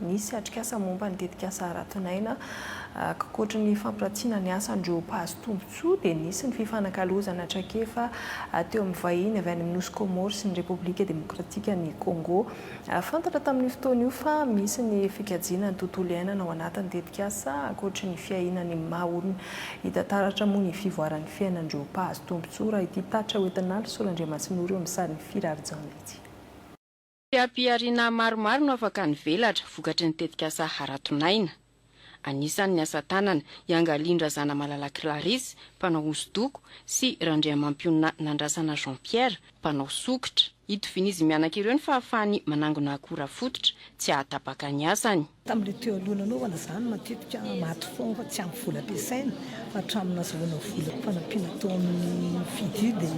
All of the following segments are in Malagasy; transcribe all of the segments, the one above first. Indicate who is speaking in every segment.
Speaker 1: Nisy atrikasa momba ny tetikasa Haraton'aina, ankoatry ny fampiratina ny asan'ireo mpahazo tombontsoa dia nisy ny fifanakalozana traikefa teo amin'ny vahiny avy any amin'ny nosy Kômôro sy ny Repoblika Demokratikan'i Kôngô. Fantatra tamin'io fotoana io fa misy ny fikajiana ny tontolo iainana ao anatin'ny tetikasa ankoatry ny fiahiana ny maha olona. Hita taratra moa ny fivoaran'ny fiainan'ireo mpahazo tombontsoa raha ity tatitra hoentin'Andry Soa Randriamasinoro eo amin'ny sarin'i Firary Jaona ity.
Speaker 2: Seha-pihariana maromaro no afaka nivelatra vokatry ny tetikasa Haraton'aina. Anisan'ny asa tanana iangalian-dRazanamalala Clarisse, mpanao hosodoko, sy Randriamampionona Nandrasana Jean Pierre, mpanao sokitra. Itovian'izy mianaka ireo ny fahafahany manangona akora fototra tsy hahatapaka ny asany. Tamin'ilay teo aloha
Speaker 3: nanaovana izany, matetika maty foana fa tsy ampy vola ampiasaina, fa hatramin'ny nazahoana vola fanampiana tao amin'ny FIDU dia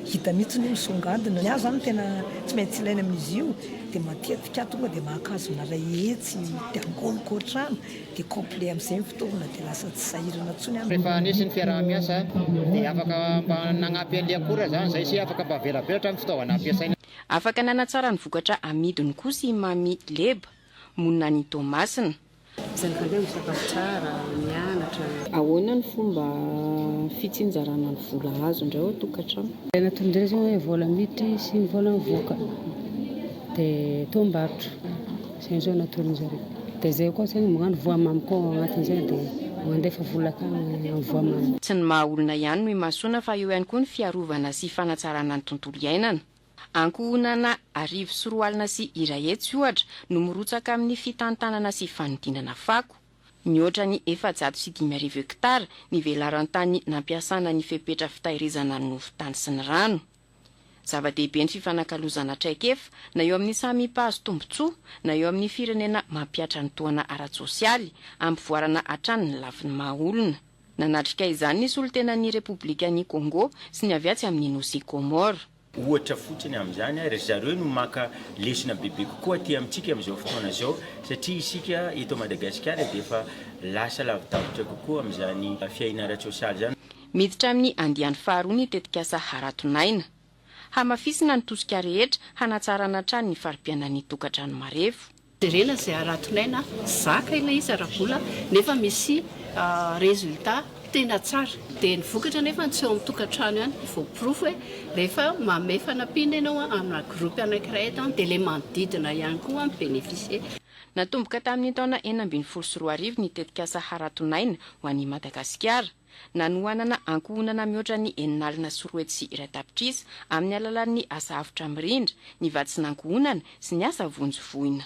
Speaker 3: hita mihitsy ny hoe misongadina. Ny ahy izany tena tsy maintsy ilaina amin'izy io dia matetika aho tonga dia mankazona iray hetsy dia angoniko hatrany dia complet amin'izay ny fitaovana dia lasa tsy sahirana intsony aho. Rehefa nisy ny fiaraha-miasa
Speaker 4: dia afaka mba nagnampy an'ilay akora izany izay sy afaka mba velabelatra ny fitaovana ampiasaina. Afaka nanatsara
Speaker 2: ny vokatra amidiny kosa i Mamy Leba. Monina any Toamasina. Misaotra anareo
Speaker 5: misakafo tsara, mianatra. Ahoana ny
Speaker 6: fomba fitsinjarana ny vola azo indray ao an-tokantrano? Tena toy ny resy hoe
Speaker 5: vola miditra sy ny vola mivoaka dia toambarotra izay izao no atolony zareo dia izay koa zany magnano voamamy koa ao agnatin'izay dia mandefa vola akany amin'ny voamamy. Tsy ny maha olona
Speaker 2: ihany no imasoana fa eo ihany koa ny fiarovana sy fanatsarana ny tontolo iainana. Ankohonana arivo sy roa alina sy iray hetsy, ohatra, no mirotsaka amin'ny fitantanana sy fanodinana fako. Mihoatra ny efajato sy dimy arivo hektara ny velaran-tany nampiasana ny fepetra fitahirizana ny nofo tany sy ny rano. Zava-dehibe ny fifanakalozana traikefa, na eo amin'ny samy mpahazo tombontsoa, na eo amin'ny firenena mampihatra ny tohana ara-tsosialy, hampivoarana hatrany ny lafiny maha-olona. Nanatrika izany ny solontenan'ny Repoblikan'i Kôngô sy ny avy atsy amin'ny nosy Kômôro. Ohatra fotsiny
Speaker 7: amin'izany ary ry zareo no maka lesona bebe kokoa aty amintsika amin'izao fotoana izao satria isika eto Madagasikara dia efa lasa lavidavitra kokoa amin'izany fiahiana ara-tsôsialy izany. Miditra amin'ny
Speaker 2: andiany faharoa ny tetikasa Haraton'aina. Hamafisina ny tosika rehetra hanatsarana hatrany ny fari-piainan'ny tokantrano marefo. Jerena izay
Speaker 8: haraton'aina zaka ilay izy ara-bola nefa misy résultat tena tsara. Dia ny vokatra anefa tsy eo amin'ny tokantrano ihany no voaporofo hoe rehefa manome fanampiana ianao amina groupe anankiray eto dia ilay manodidina ihany koa mi-bénéficier. Natomboka
Speaker 2: tamin'ny taona enina ambin'ny folo sy roa arivo ny tetikasa haraton'aina ho an'i Madagasikara. nanohanana ankohonana mihoatra ny enina alina sy roa hetsy sy iray tapitrisa amin'ny alalan'ny asa avotra mirindra, ny vatsin'ankohonana sy ny asa vonjy voina.